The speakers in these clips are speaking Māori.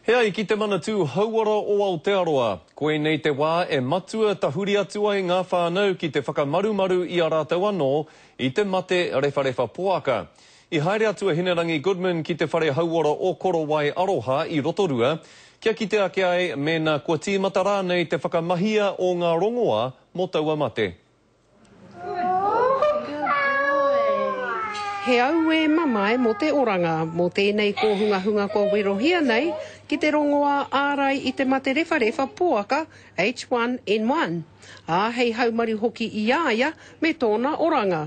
He ai ki te Manatū Hauora o Aotearoa, koinei te wā e matua tahuri atu ai ngā whānau ki te whakamarumaru i a rātou anō i te mate rewharewha poaka. I haere atu a Hinerangi Goodman ki te whare hauora o Korowai Aroha i Rotorua, kia kite ake ai mēnā kua tīmata rānei te whakamahia o ngā rongoā mō taua mate. He auē mamae mō te oranga, mō tēnei kōhungahunga kua werohia nei ki te rongoā ārai i te mate rewharewha poaka H1N1, ā, hei haumaru hoki i a ia me tōna oranga.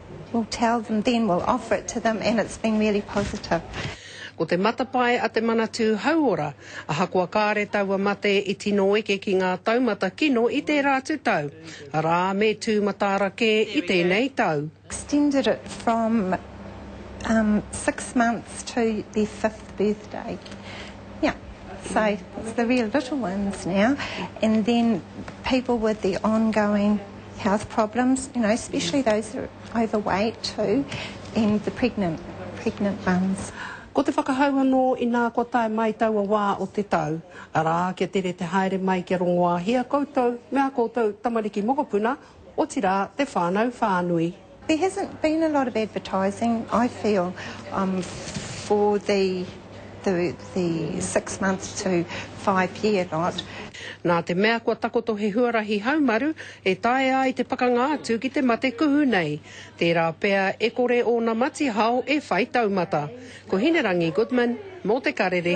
We'll tell them then, we'll offer it to them and it's been really positive. Ko te matapae a te Manatū Hauora, ahakoa kāre taua mate i tino eke ki ngā taumata kino i tērā atu tau, arā, me tū mataara kē i tēnei tau. Extended it from um, six months to their fifth birthday. Yeah, so it's the real little ones now. And then people with the ongoing health problems, you know, especially those that are overweight too, and the pregnant, pregnant mums. Ko te whakahau anō inā kua tae mai taua wā o te tau, arā, kia tere te haere mai kia rongoāhia koutou me ā koutou tamariki mokopuna, otirā te whānau whānui. There hasn't been a lot of advertising, I feel, um, for the, the, the six months to five year lot. Nā te mea kua takoto he huarahi haumaru e taea ai te pakanga atu ki te mate kuhu nei, tērā pea e kore ōna matihao e whai taumata. Ko Hinerangi Goodman, mō Te Karere.